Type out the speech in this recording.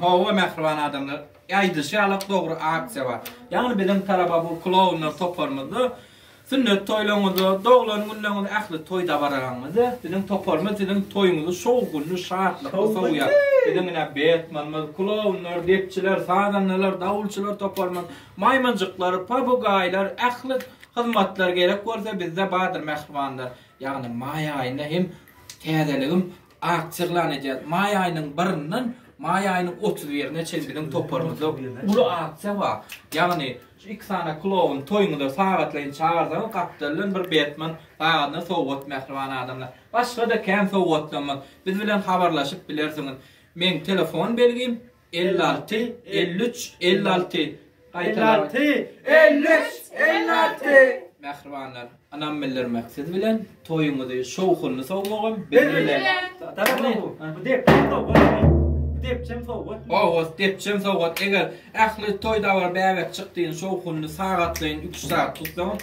Hawa mähriban adamlar. Aýdyşy ýaly dogry aksiýa bar. Ýagny biziň taraba bu klounlar toparymyzda Sünnet toýlaryňyzda, doglan günleriňizde ähli toý dabaralaryňyzda biziň toparymyz siziň toýuňyzy şowhunly, şatlykly sowýar. Biziň ine Betmenimiz, klownlar, depçiler, sazandalar, dawulçylar toparymyz, maýmynjyklar, papugaýlar, ähli hyzmatlar gerek bolsa bizde bardyr mähribanlar. Ýagny maý aýynda hem täzeligim Akt yglan edýäris. Maý aýynyň birinden maý aýynyň otuz birine çenli biziň toparymyzda uly aksiýa bar. Ýagny, şu iki sany kloun toýuňyza sagatlaýyn çagyrsaňyz, gapdaldan bir Betmen sagadyna sowgat mähriban adamlar. Başga-da kän sowgatlarymyz. Biz bilen habarlaşyp bilersiňiz. Meň telefon belgim. Elli alty, elli üç, elli alty. Elli alty, elli üç, elli alty. Mähribanlar, ynam bildirmek siz bilen, toýuňyzy şowhunly sowmagam biz bilen. Bu depçem sowgat. Bu depçem sowgat. Owgat, depçem sowgat. Eger ähli toý-dabara bäbek çykdygyny şowhunly, sagatlaýyn üç sagat tutsaňyz,